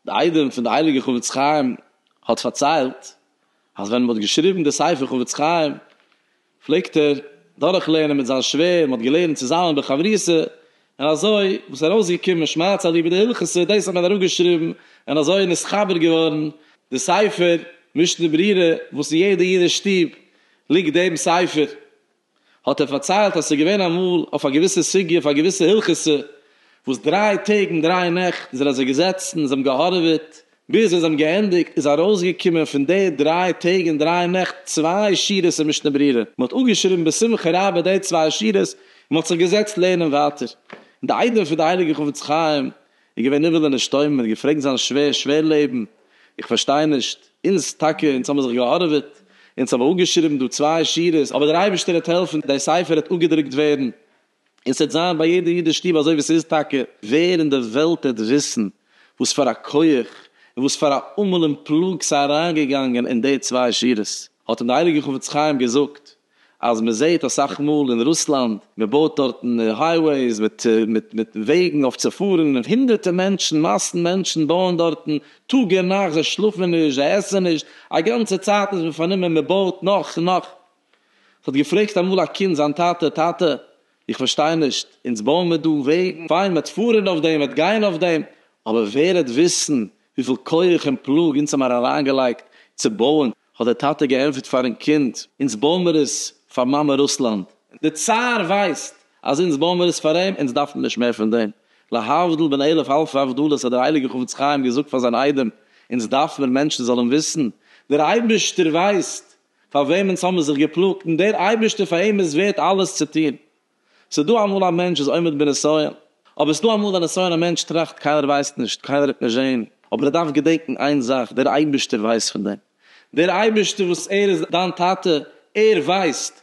די איידעם פון די הייליגע חפץ חיים האט פארציילט אז ווען מען האט געשריבן די ספר חפץ חיים פלעגט ער דורך לערנען מיט זיין שווער, מען האט געלערנט צוזאמען בחברותה, און אזוי וואס ארויסגעקומען שמארץ אלי' בידי הילכות סער דעיס האט מען אראפגעשריבן און אזוי איז נתחבר געווארן די ספר משנה ברירה וואס אין יעדע אידיש שטוב ליגט דעם ספר האט ער פארציילט אז ס'איז געווען אמאל אויף א געוויסע סוגיא אויף א געוויסע הילכות סער וואס דריי טעג און דריי נעכט איז ער אזוי געזעצן און זיי האבן געהארעוועט ביז זיי האבן געענדיגט איז ארויסגעקומען פון די דריי טעג און דריי נעכט צוויי שורות אין משנה ברורה, מען האט אפגעשריבן בשמחה רבה די צוויי שורות און מען האט זיך געזעצט לערנען ווייטער, און די איידעם פון די הייליגע חפץ חיים איז געווען נבהל און נשתומם, מען האט געפרעגט זיין שווער, שווער לעבן, איך פארשטיי נישט, אונז טאקע, אונז האבן זיך געהארעוועט, אונז האבן אפגעשריבן דא צוויי שורות, אבער דער אייבערשטער העט העלפן די ספר העט אפגעדרוקט ווערן. און ס'עט זיין ביי יעדע אידיש שטוב אזוי ווי ס'איז טאקע, ווער אין די וועלט עט וויסן וואס פאר א כח און וואס פאר א עמל און פלאג ס'איז אריינגעגאנגען אין די צוויי שורות, האט אים די הייליגע חפץ חיים געזאגט אז מ'זעהט אסאך מאל אין רוסלאנד מ'בויט דארטן הייוועיס מיט מיט מיט וועגן אויף צו פארן און הונדערטע מענטשן מאסן מענטשן בויען דארטן טאג און נאכט זיי שלאפן נישט זיי עסן נישט א גאנצע צייט איז מען פארנומען מ'בויט נאך און נאך האט געפרעגט אמאל א קינד זיין טאטע, טאטע, איך פארשטיי נישט, אונז בויען מיר דא וועגן, פיין, מען וועט פארן אויף דעם, מען וועט גיין אויף דעם, אבער ווער וועט וויסן וויפיל כח און פלאג אונז האבן אריינגעלייגט צו בויען? האט דער טאטע געענטפערט פארן קינד, אונז בויען מיר עס פאר מאמע רוסלאנד, דער צאר ווייסט אז אונז בויען מיר עס פאר אים, אונז דארפן נישט מער פון דעם, להבדיל בין אלף אלפי הבדלות האט דער הייליגער חפץ חיים געזאגט פאר זיין איידעם, אונז דארף מיר מענטשן זאלן וויסן, דער אייבערשטער ווייסט פאר וועמענס האבן מיר זיך געפלאגט, און דער אייבערשטער פאר אים איז ווערט אלעס צו טון. ס'איז דא אמאל א מענטש איז עומד בנסיון, אבער ס'איז דא אמאל א נסיון א מענטש טראכט קיינער ווייסט נישט, קיינער האט נישט זעהן, אבער ער דארף געדענקן איין זאך, דער אייבערשטער ווייסט פון דעם, דער אייבערשטער וואס ער איז דיין טאטע, ער ווייסט,